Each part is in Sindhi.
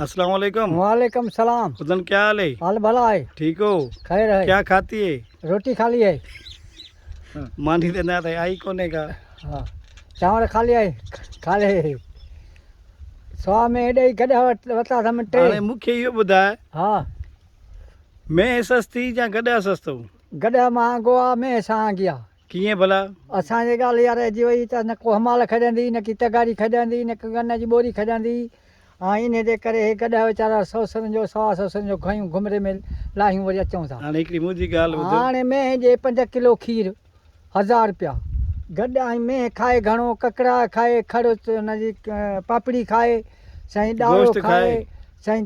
اسلام عليڪم وعليڪم السلام ادن کيا حال هي حال بھلا آھي ٺيڪ هو خير آھي کيا کاتي هي روٽي خالي آھي ماني ته نه ٿي آئي ڪوني ڪا ها چانور خالي آھي خالي هي سوا ۾ اڏي گڏا وتا سم ٽي هاڻي مونکي اهو ٻڌاء ها مين سستي يا گڏا سستو گڏا مهانگو آ مين سهانگي آ ڪيئن ڀلا؟ اسان جي ڳالهه اها رهجي وئي ته نه ڪو همال کڄندي، نه ڪي تغاري کڄندي، نه ڪي ڳن جي ٻوري کڄندي. هاڻ انهيء جي ڪري هي گڏهه ويچارا سؤ سرن جو سوا سؤ سرن جو گهيون گهمري ۾ لاهيون وري اچون ٿا. هاڻ هڪڙي منهنجي ڳالهه ٻڌ. هاڻ مينهن جي پنج ڪلو کير هزار روپيا گڏ ۽ مينهن کائي گهڻو، ڪڪڙاء کائي، کڙ ان جي پاپڙي کائي، سائين ڏاڙهو گوشت کائي. کائي. سائين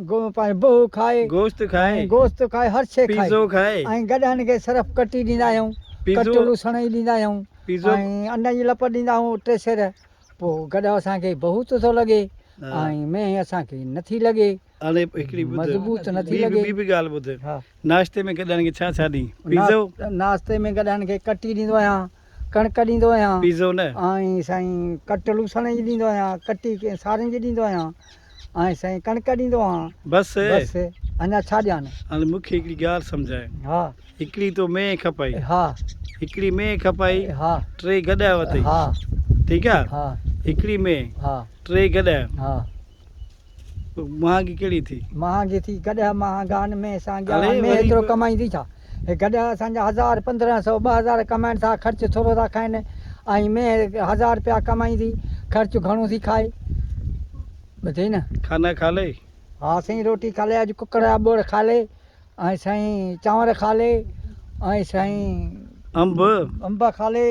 گوء پاڻ بهو کائي. گوشت کائي. گوشت کائي هر شيء کائي. پيزو کائي. ۽ گڏهن ان کي صرف ڪٽي ڏيندا آهيون. پيزو. ڪٽ لوسڻ جي ڏيندا آهيون. پيزو. ۽ انڊن جي لپ ڏيندا آهيون ٽي سير. پوء گڏهه اسان کي بهوت ٿو لڳي. ۽ مينهن اسان کي نه ٿي لڳي. هاڻي هڪڙي ٻڌ. مضبوط نه ٿي لڳي. ٻي به ڳالهه ٻڌ. ناشتي ۾ گڏهن کي ڇا ڇا ڏين. پيزو. ناشتي ۾ گڏهن کي ڪٽي ڏيندو آهيان. ڪڻڪ ڏيندو آهيان پيزو نه. آئين سائين ڪٽ لوسڻ جي ڏيندو آهيان ڪٽي ڪئين سارين جي ڏيندو آهيان آئين سائين ڪڻڪ ڏيندو آهان بس بس اڃا ڇا ڏيان هاڻي مون کي هڪڙي ڳالهه سمجهاء ها هڪڙي تو مينهن کپائي ها هڪڙي مينهن کپائي ها ٽي گڏهه وتئي ها ٺيڪ آ ها هڪڙي مينهن ها ٽي گڏهه ها. مهانگي ڪهڙي ٿي؟ مهانگي ٿي گڏهه مهانگان ۾ سانگيان ۾ ايترو ڪمائين ٿي ڇا؟ هي گڏهه اسان جا هزار پندرهن سئو ٻه هزار ڪمائين ٿا خرچ ٿورو ٿا کائين ۽ مينهن هزار رپيا ڪمائين ٿي خرچ گهڻو ٿي کائي ٻڌئي نه. کانا کا لئي؟ ها سائين روٽي کا لئي اڄ ڪڪڙ جا ٻوڙ کا لئي ۽ سائين چانور کا لئي ۽ سائين انب انب کا لئي.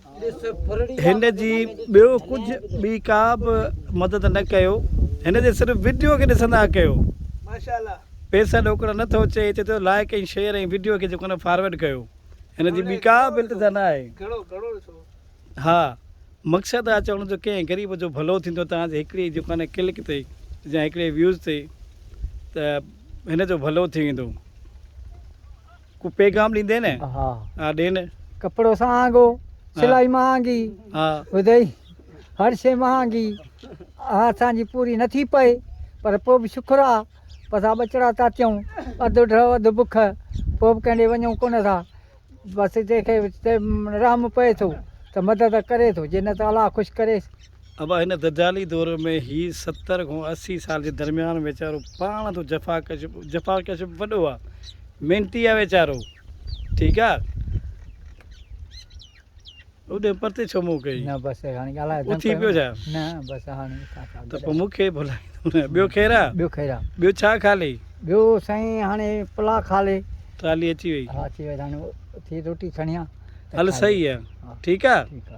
هن جي ٻيو ڪجهه ٻي ڪا به مدد نه ڪيو هن جي صرف وڊيو کي ڏسندا ڪيو پيسا ڏوڪڙا نه ٿو چئي چئي ٿو لائيڪ ۽ شيئر ۽ وڊيو کي جيڪو نه فارورڊ ڪيو هن جي ٻي ڪا به التجا نه آهي ها مقصد آهي چوڻ جو ڪنهن غريب جو ڀلو ٿيندو توهان جي هڪڙي جيڪو نه ڪلڪ تي يا هڪڙي ويوز تي ته هن جو ڀلو ٿي ويندو. ڪو پيغام ڏيندين نه ها ها ڏين. ڪپڙو سهانگو سلائي مهانگي ها ٻڌئي هر شي مهانگي اها اسان جي پوري نٿي پئي پر پوء به شڪر آ پسا ٻچڙا ٿا ٿيون اڌ ڊهه اڌ بک پوء به ڪنهن ڏي وڃون ڪونه ٿا بس جنهن کي رحم پئي ٿو ته مدد ڪري ٿو جي نه ته الله خوش ڪريس ابا هن دجالي دور ۾ هي ستر کان اسي سال جي درميان ويچارو پاڻ تون جفاڪش جفاڪش وڏو آ محنتي آ ويچارو ٺيڪ آ اوڏي پرتي ڇو مون ڪئي نه بس هاڻي ڳالهاء اٿي پيو جا نه بس هاڻي ته پوء مون کي ڀلائي ٻيو خير آ ٻيو خير آ ٻيو ڇا کالي ٻيو سائين هاڻي پلا کالي ٽرالي اچي وئي ها اچي وئي هاڻي اٿي روٽي کڻيان هل صحيح آ ٺيڪ آ ٺيڪ آ